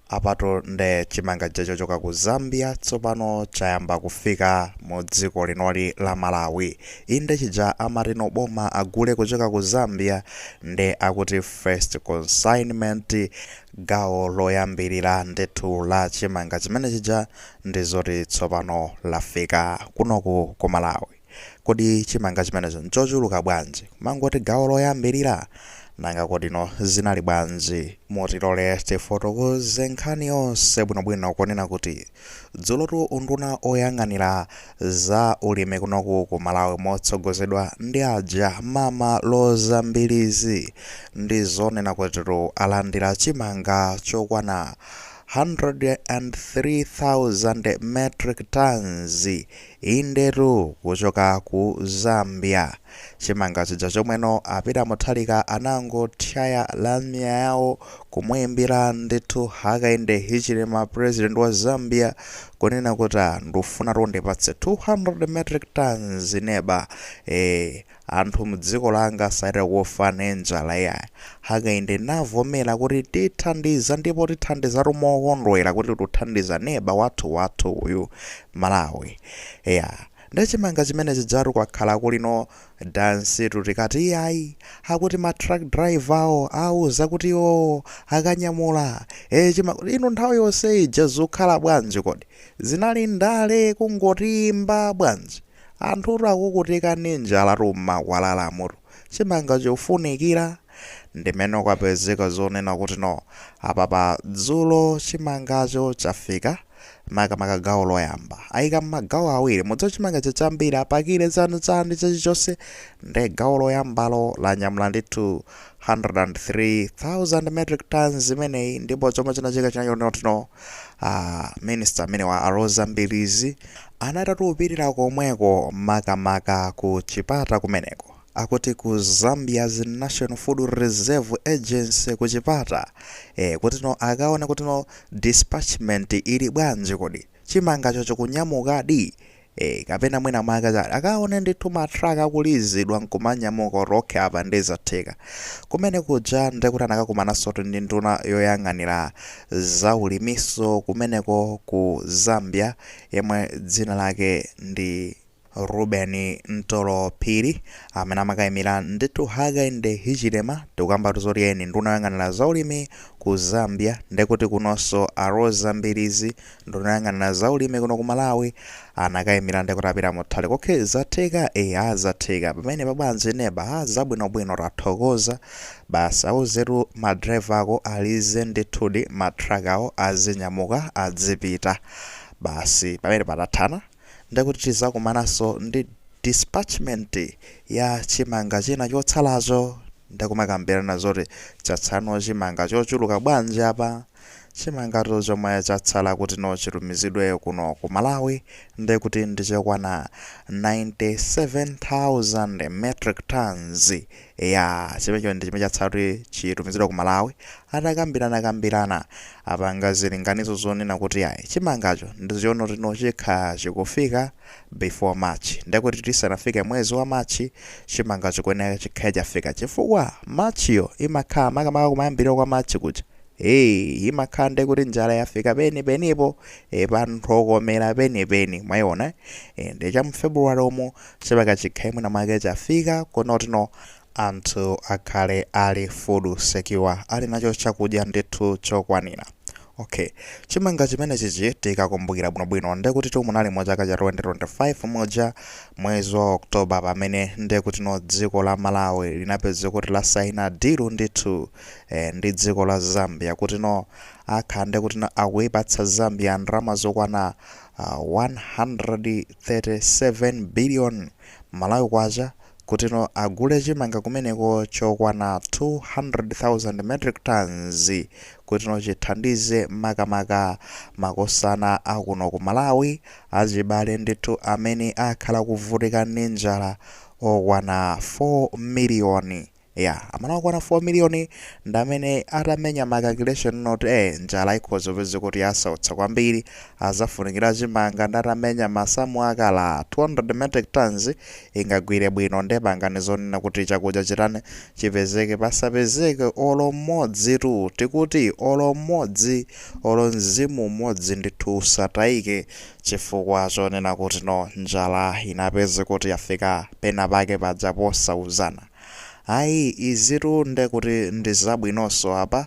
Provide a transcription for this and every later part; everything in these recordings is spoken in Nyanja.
Apatu nde chimanga chija chochoka ku Zambia tsopano chayamba kufika mu dziko linoli la Malawi. Inde chija amati no boma agule kuchoka ku Zambia nde akuti first consignment gawo loyambirira ndithu la chimanga chimene chija ndizoti tsopano lafika kunoku ku Malawi. Kodi chimanga chimenecho nchochuluka bwanji? Kumangoti gawo loyambirira? Nanga kodino zinali bwanji? Mutilole tifotokoze nkhani yonse bwinobwino ponena kuti dzulotu unduna oyang'anira za ulimi kunoku ku Malawi motsogozedwa ndi aja mama Roza Mbilizi ndi zonena kutitu alandira chimanga chokwana 103,000 metric tonnes Indetu kuchoka ku Zambia chimanga chija chomwe no a Peter Mutharika anangothyaya lamya yawo kumuimbira ndithu Hakainde Hichilema president wa Zambia kunena kuti ah ndufunatu undipatse 200 metric tonnes neba ee Anthu mdziko langa satha kufa ndi njala iyayi. Hakainde navomera kuti tithandiza ndipo tithandizatu mokondwera kuti tuthandiza neba wathu wathu uyu, Malawi. Eya, nde chimanga chimene chijatu kwakhala kuli no dansitu tikati iyayi, akuti ma truck driver wo awuza kuti iwowo akanyamula, ee inu nthawi yonse ija zukhala bwanji kodi? Zinali ndale kungoti imba bwanji? Anthutu akukutika ndi njalatu mmakwalalamutu. Chimanga chofunikira. Ndimene kwapezeka zonena kuti no. Apapa dzulo chimangacho chafika, makamaka gawo loyamba. Ayika mmagawo awiri. Mudziwa chimanga chija chambiri apakire chani chani chilichonse nde gawo loyambalo lanyamula ndithu 103,000 metric tonnes imeneyi ndipo chomwe chinachitika chinali choti no. Aaa minister amenewa a Roza Mbilizi. Anatha atupirira komweko makamaka ku Chipata kumeneko akuti ku Zambia's National Food Reserve Agency ku Chipata ee kutino akaone kutino dispatchment ili bwanji kodi chimangacho chikunyamukadi ee kapena mwina mwake chani akaone ndithu ma truck akulizidwa nkumanyamuka kuti okay apa nde zatheka. Kumene kuja ndekuti anakakumanansotu ndi nduna yoyang'anira za ulimiso kumeneko ku Zambia. yemwe dzina lake ndi Reuben Mtolo Phiri amene amakayimira ndithu Hakainde Hichilema tikukambatu zoti eni nduna yoyang'anira zaulimi ku Zambia ndekuti kunonso a Roza Mbilizi nduna yoyang'anira zaulimi kuno ku Malawi anakayimira ndekuti apita muthale kokhe zatheka e azatheka pamene pabwanji neba a zabwinobwino tathokoza basi auzetu madriver ako alize ndithudi matrakiwo azinyamuka adzipita Basi pamenepa tathana ndiye kuti tizakumanaso ndi dispatchment ya chimanga china chotsalacho ndiye kumakambirana zoti chatsalano chimanga chochuluka bwanji apa. Chimangatu chomwe chatsala kutino chitumizidwe kuno ku Malawi ndiye kuti ndi chokwana 97,000 metric tonnes. Eya chimenecho ndi chimene chatsala kuti chitumizidwe ku Malawi. Atakambirana kambirana apanga zilinganizo zonena kuti ayi chimangacho ndi choona kutino chikhale chikufika before March. Ndekuti tisanafike mwezi wa March chimangacho chikuyenera chikhale chafika chifukwa March yo imakhala makamaka kumayambiriro kwa March kuja ee imakhala ndekuti njala yafika peni penipo ee pa mthokomera peni peni mwayiona ee. Ndiye cha mu February umu Chimanga chikhale mwina mwake chafika kunokuno anthu akhale ali food secure ali nacho chakudya ndithu chokwanira. Ok. Chimanga chimenechichi tikakumbukira bwinobwino ndekutitu munali mu chaka cha 2025 muja mwezi wa October pamene ndekutino dziko la Malawi linapezeka kuti lasaina deal ndithu eh ndi dziko la Zambia kutino akhala ndekutino akuipatsa Zambia ndalama zokwana 100 37 billion Malawi Kwacha kutino agule chimanga kumeneko chokwana 200,000 metric tonnes kutino chithandize makamaka makosana a kuno ku Malawi achibale ndithu amene akhala akuvutika ndi njala okwana 4 million. Eya, amene akwana 4 million nde amene atamenya ma calculation anati eh njala ikhoza kupezeka kuti yasautsa kwambiri, azafunikira chimanga nde atamenya masamu akati 200 metric tonnes ingagwire bwino nde pangani zoona kuti chakudya chitani chipezeke pasapezeke olo mmodzi tu tikuti olo mmodzi olo mzimu umodzi ndithu usataike chifukwa choona kuti no njala inapezeka kuti yafika pena pake paja posauzana. Ayi, izitu nde kuti ndi zabwinonso apa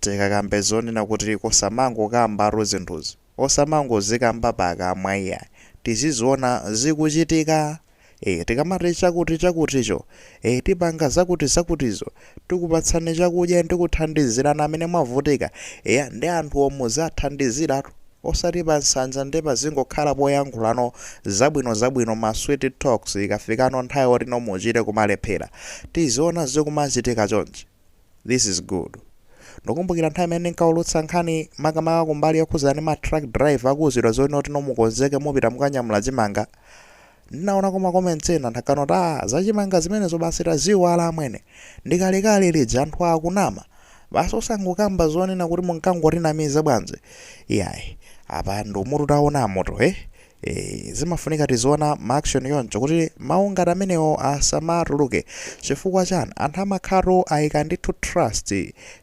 tikakambe zonena kuti osamangokambatu zinthuzi, osamangozikamba pakamwa iyayi, tiziziona zikuchitika! Eee tikamati chakuti chakuticho, ee tipanga zakuti zakutizo, tikupatsani chakudya ndi kuthandizirana amene mwavutika, eya nde anthuwo muzathandiziratu. osati pa nsanja ndi pazingokhala poyankhula no zabwino zabwino ma sweet talks ikafikano nthawi oti no muchite kumalephera tiziona zikumachitika chonchi this is good ndukumbukira nthawi imene ndinkaulutsa nkhani makamaka kumbali yokhuzana ndi ma truck driver akuuzidwa zoti no mukonzeke mupita mukanyamula chimanga Ndinaonako ma comments ena nthawi kuti ah zachimanga zimenezo basi taziiwala amwene. Ndikalekale lija anthu akunama. Basi osangokamba zonena kuti munkangotinamiza bwanji. Iyayi. Apa ndi umutu taonamotu eh. Eh, zimafunika tiziona ma action choncho kuti mawu ngati amenewo asamatuluke. Chifukwa chani? Anthu amakhalatu ayika ndithu trust,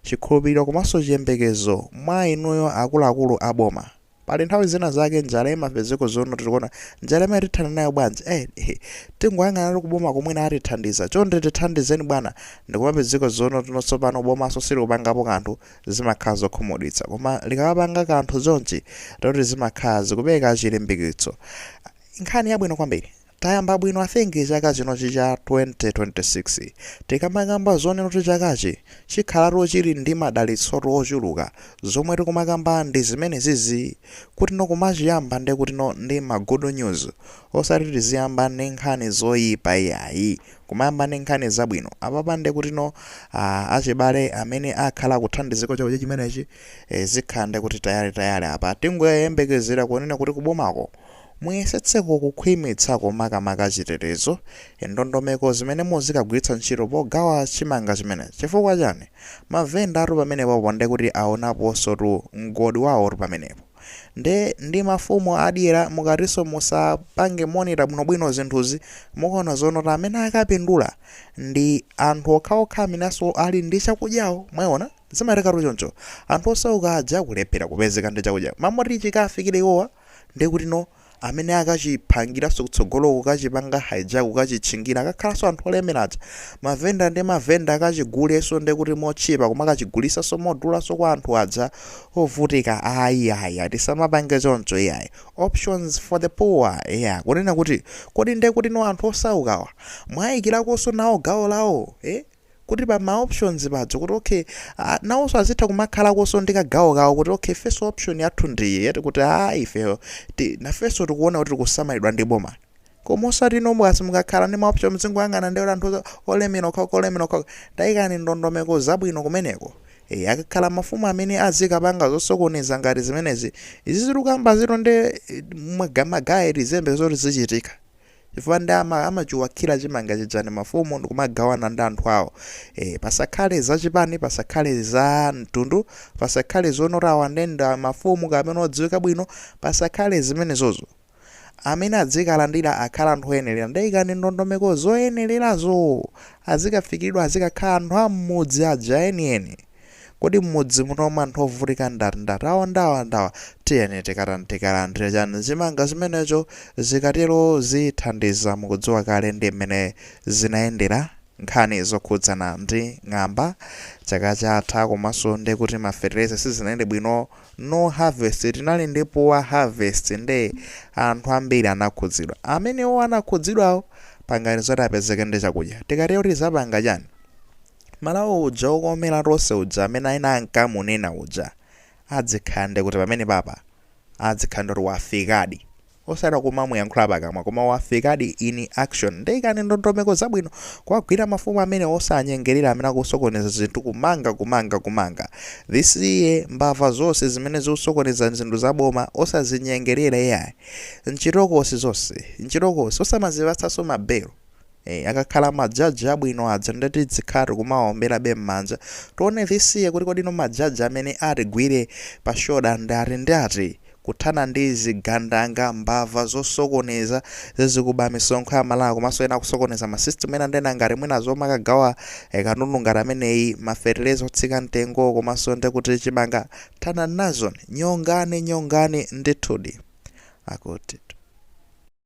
chikhulupiriro komanso chiyembekezo mwa inuyo akuluakulu a boma. pali nthawi zina zake njala imapezeko zono tikuona njala imeneyi tithana nayo bwanji eh, eh, tingoyang'anatu kuboma komweku na atithandiza chonde tithandizeni bwana ndikumapezeko zono tino tsopano bomanso silikupangapo kanthu zimakhala zokhumudwitsa koma likamapanga kanthu zonchi toti zimakhala zikupereka chilimbikitso nkhani yabwino kwambiri Tayamba bwino I think chaka chinochi cha 2026 tikamakamba zonena kuti chakachi chikhalatu chili ndi madalitsotu ochuluka, zomwe tikumakamba ndi zimenezizi kutino kumachiyamba nde kutino ndi ma good news osati tiziyamba ndi nkhani zoyipa iyayi kumayamba ndi nkhani zabwino apapa nde kutino aah achibale amene akhala akuthandizika ndi chakudya chimenechi eh zikhala nde kuti tayale tayale apa tingoyembekezera kunena kuti kubomako Muyesetseko kukhwimitsako makamaka chitetezo, ndondomeko zimene muzikagwiritsa ntchito pogawa chimanga chimenechi. Chifukwa chani? Mavendatu pamenepopo nde kuti awonaponsotu mgodi wawotu pamenepo. Nde ndi mafumu adyera mukatinso musapange monitor bwinobwino zinthuzi, mukaona zonena kuti amene akapindula ndi anthu okhaokha amenenso ali ndi chakudyawo. Mwayiona? Zimathekatu choncho. Anthu osauka aja kulephera kupezeka ndi chakudya. M'malo moti chikawafikira iwowa. Ndekutino amene akachiphangiranso kutsogoloko kukachipanga hijack kukachitchingira akakhalanso anthu olemera aja. Mavenda ndi mavenda akachigulenso ndekuti motchipa kumakachigulisanso modulanso kwa anthu aja ovutika ayi iyayi tisamapange choncho iyayi. Options for the poor eya kunena kuti kodi ndekutino anthu osaukawa mwaikirakonso nawo gawo lawo? Eh? kuti pa ma options paja kuti okay ah, nawonso azitha kumakhalakonso ndi kagawo kawo kuti okay ifenso option yathu ndiyi yati kuti a ifeyo ti- nafenso tikuona kuti tikusamalidwa ndi boma koma osati nomwe kasi mukakhala ndi maoption mzingoyang'ana ndi kuti anthu oza- olemera okhaokha olemera okhaokha tayikani ndondomeko zabwino kumeneko e, akakhala mafumu amene azikapanga zosokoneza ngati zimenezi izi tikukambazitu ndi eh, maga- magaya tizembe zoti zichitika chifukwa ndi amachiwakira chimanga chijani mafumu ndikumagawana ndi anthu awo e, pasakhale za chipani pasakhale za mtundu pasakhale zonena awa ndi a mafumu kapena odziwika bwino pasakhale zimenezozo amene adzikalandira akhala anthu oyenerera nde ikani ndondomeko zoyenererazo azikafikiridwa azikakhala anthu am'mudzi aja enieni Kodi mmudzi muno mwe anthu ovutika ndat ndat ndawa ndawa tiyeni tikatan tikalandile chani chimanga chimenecho zikatelo zithandiza mukudziwa kale ndi mmene zinayendela nkhani zokhudzana ndi ng'amba chaka chatha komaso ndekuti ma fertilizer sizinayende bwino no harvest tinali ndi poor harvest nde anthu ambiri anakhudzidwa amenewo anakhudzidwawo pangani zoti apezeke ndi chakudya tikatero tizapanga chani Malawi uja okomela tonse uja amene ena ankamunena uja adzikhala nde kuti pamenepapa adzikhala nde kuti wafikadi osati kumamuyankhula pakamwa koma wafikadi in action nde ikani ndondomeko zabwino kuwagwira mafumu amenewa osaanyengelera amene akusokoneza zinthu kumanga kumanga kumanga this year mbava zonse zimene zikusokoneza zinthu za boma osazinyengelera iyayi nchitokosi zonse nchitokosi osamazipatsanso mabelo akakhala majaji abwino aja nde tidzikhala tikumawaomberabe m'manja tione this year kuti kodi no majaji amene atigwire pa shoda ndi ati ndi ati kuthana ndi zigandanga mbava zosokoneza zizikuba misonkho ya malawi komanso ena akusokoneza masystem ena ndena ngati mwina zomwe akagawa eh, katundu ngati ameneyi mafertilizer otsika mtengo komanso nde kuti chimanga thana nazoni nyongani nyongani ndithudi akuti